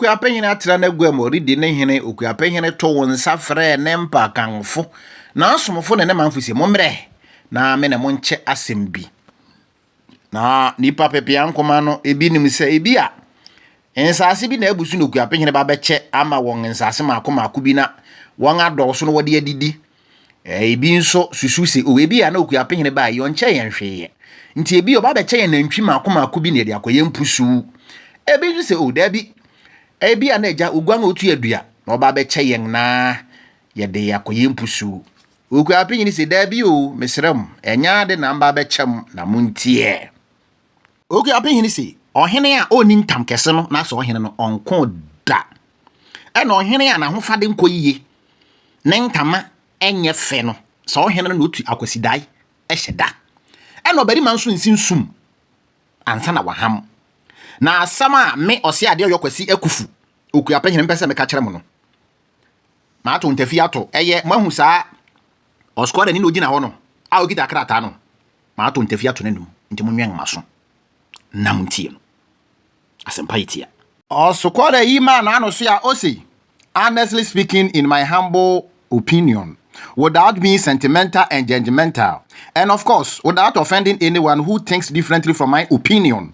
okuapɛhene atra n'agua mu ɔredi ne hene okuapɛhene to wo nsa frɛɛ ne mpakanfo n'asomfo ne ne manfo se mommrɛ na me ne mo nkyɛ asɛm bi Na nipa pepea nkoma no, ebi nim sɛ ebi a nsaase bi na abu so na okuapɛ hene ba bɛkyɛ ama wɔn nsaase mako mako bi na wɔn adɔɔso no wɔde adidi. Ebi nso susu sɛ o ebi a na okuapɛ hene ba yi ɔnkyɛ yɛn hwee. Nti ebi ɔba bɛkyɛ yɛn nantwi mako mako bi na yɛde akɔyɛ mpusu. Ebi nso sɛ o dabi ebi a na agya oguan a otu adua na ɔba bɛkyɛ yɛn na yɛde akɔyɛ mpusu. Okuaa Pinyini se, Dabi o, mesrɛ mo, ɛnyɛ ade na mba abɛkyɛ mo na monteɛ. Okuaa Pinyini se, Ɔhene a ɔnni ntam kɛse no n'asɛ ɔhene no ɔnko da. Ɛna ɔhene a n'ahofade nkɔ yiye, ne ntama nyɛ fɛ no, saa ɔhene no na ɔtu akwasidae hyɛ da. Ɛna ɔbarima nso nsi nsum ansa na waham. Na asɛm a me Ɔseadeɛ Ɔyɔkwasi Akufu, Okuaa Pinyini, mpɛ sɛ meka kyerɛ mo no, Mato ntafi ato. Ɛyɛ, moahu saa ɔsquadani na ogyina hɔ no a okita krataa no? Mato ntafi ato n'anom. Nti monwɛn m'aso na muntie no. Asɛmpa yɛ tia. Ɔsquada yi maa n'ano so a ose, Honestly speaking, in my humble opinion, without being sentimental and judgemental, and of course, without offending anyone who thinks differently from my opinion,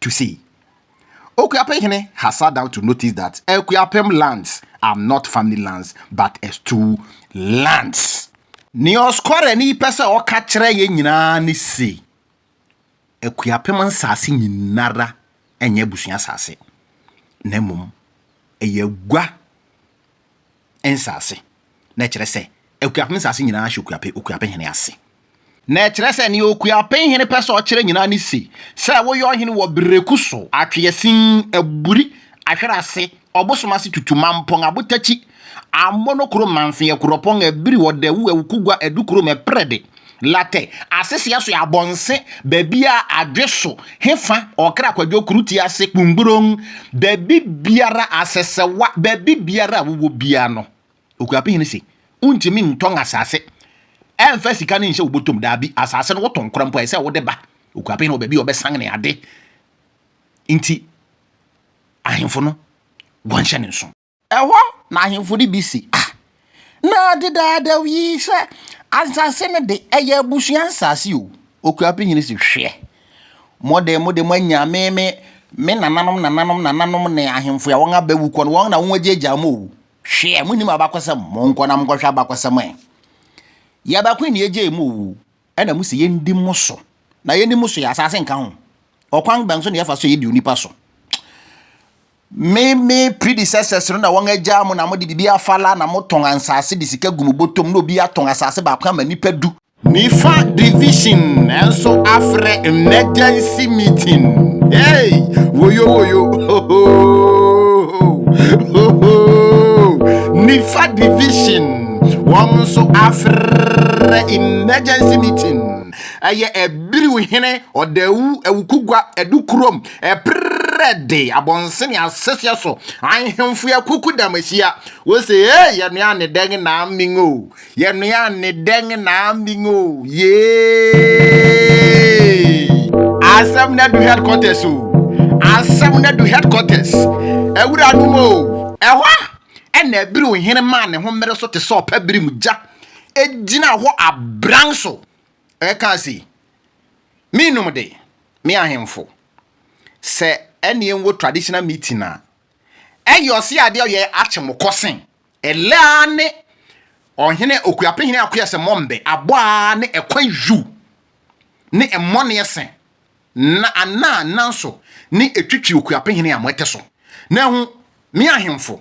to say Okuapem hene has sat down to notice that Akuapem lands are not family lands but a stool lands. Nea ɔskorani pɛ sɛ ɔka kyerɛ yɛn nyinaa ne se, Akuapem nsase nyinara nyɛ abusua asase, na mmom ɛyɛ agua nsase. Na ɛkyerɛ sɛ Akuapem nsase nyinaa hyɛ Okuape, Okuapehene ase. Na ɛkyerɛ sɛ nea Okuapehene pɛ sɛ ɔkyerɛ nyinaa ne se, sɛ woyɛ ɔhene wɔ Bereku so, Atweasin, Aburi, Ahwerase, Ɔbosom ase tutu, Mampong, Abotakyi, Amono kurom, Manfee, Akuropong, Abiri, Ɔdawu, Awukugwa, Adu kurom, Ɛprɛde, Latte, asese aso abɔnse, baabi a adwe so, he fa, ɔkra kwadwo koro ti ase, kpungborong, baabi biara, asɛsɛwa, baabi biara a wowɔ biara no, Okuapɛ hene se, wontumi ntɔn asase ɛmfa sika no nhyɛ wo bɔtɔm, daabi, asase no wotɔn kora mpo a, ɛsɛ wode ba Okuapɛ hene wɔ baabi a ɔbɛsan ne ade, nti ahemfo no wɔnhyɛ ne nso. Ɛhɔ na ahemfo no bi se, Ah, na dedaadaw yi sɛ asase no de, ɛyɛ abusua nsase o! Okuapem hene se, Hwɛ! Mo de, mode moanya me, me, me nananom nananom nananom ne ahemfo a wɔaba awu kɔ no, wɔn na wɔagyaagyaa mo o! Hwɛ! Munnim abakɔsɛm? Monkɔ na monkɔhwɛ abakɔsɛm ɛ! Yɛn baako na egyee mo o! Ɛna mo se yɛndi mo so. Na yɛnni mo so yi, asase nka ho. Ɔkwan bɛn so na yɛfa so yɛdi onipa so? Me me predecessors no na wɔn agyaa mo na mo de bibi afala na mo tɔn ansase de sika gu mo botom na obi atɔn asase baako ama nipa du. Nifa division nso afrɛ emergency meeting hey woyo woyo hohoo hohoo Nifa division. wɔn nso afrɛ emergency meeting ɛyɛ ɛbiriw hene ɔdawu awukugua ɛdu kurom ɛprɛ de abɔnsene asɛseɛ so ahemfo yɛ kuku dam ahyia wɔsɛ ee yɛnoa ne dɛn na aming o yɛnoa ne dɛn na aming o yee asɛm na du headquarters o asɛm na du headquarters awura no mu o ɛhɔ Ɛnna Abiru hene maa ne ho mmere so te sɛ ɔpɛ bere mu gya. Egyinaa hɔ abran so kaa se, Minnom de, me ahemfo, sɛ ɛne yɛnwɔ traditional meeting a, ɛyɛ ɔse adeɛ a ɔyɛ akye mo kɔ se, ɛlɛ ara ne ɔhene Okuapehene Akoya sɛ mɔmmbe abɔ ara ne ɛkwan yu ne ɛmmɔneɛ se Na anaa nanso ne etwitwi okuapehene a moete so, na ehu, me ahemfo,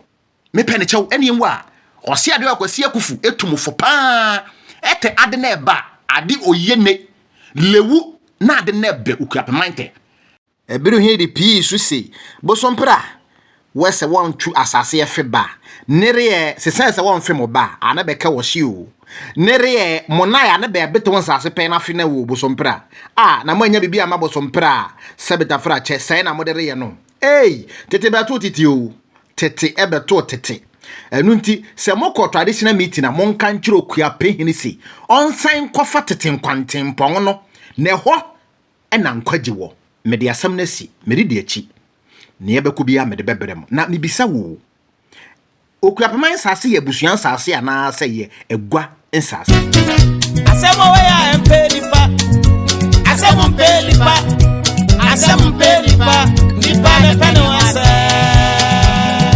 me pɛ ne kyɛw ɛne enwu a, ɔse ade ɔyɛ Kwasi Akufu etu mo fo paa ɛte ade na ɛba ade ɔyɛ ne lewu na ade na ɛbɛ okuapeman tɛ. Ebiri hee de pii so se, Bosompra, Wɛ sɛ wɔn tu asase ɛfe ba, nereɛ sesɛɛ sɛ wɔn fe mo ba a na bɛ kɛ wɔ hye o, nereɛ mo naɛ a na bɛ bete wɔn asase pɛɛ na fe na wɔ bosompra a na mo anya bibi ama bosompra a sɛ beta fera kyɛ sɛɛ na mo de reyɛ no ei tete bɛ too tete o tete ɛbɛ too tete ɛno nti sɛ mo kɔ traditional meeting a monka nkyere Okuapehene se ɔnsan nkɔfa tete nkwantempɔn no na ɛhɔ na nkwagye wɔ. Mede asɛm no asi, meredi akyi. Nea ɛbɛkɔ biara mede bɛbrɛ mo. Na mibisa wo, Okura pema nsase yɛ abusua nsase anaasɛ ɛyɛ agua nsase? Asɛm a wɔyɛ a ɛmpɛ nipa. Asɛm mpɛ nipa. Asɛm mpɛ nipa. Nipa ne pɛ ne ho asɛm.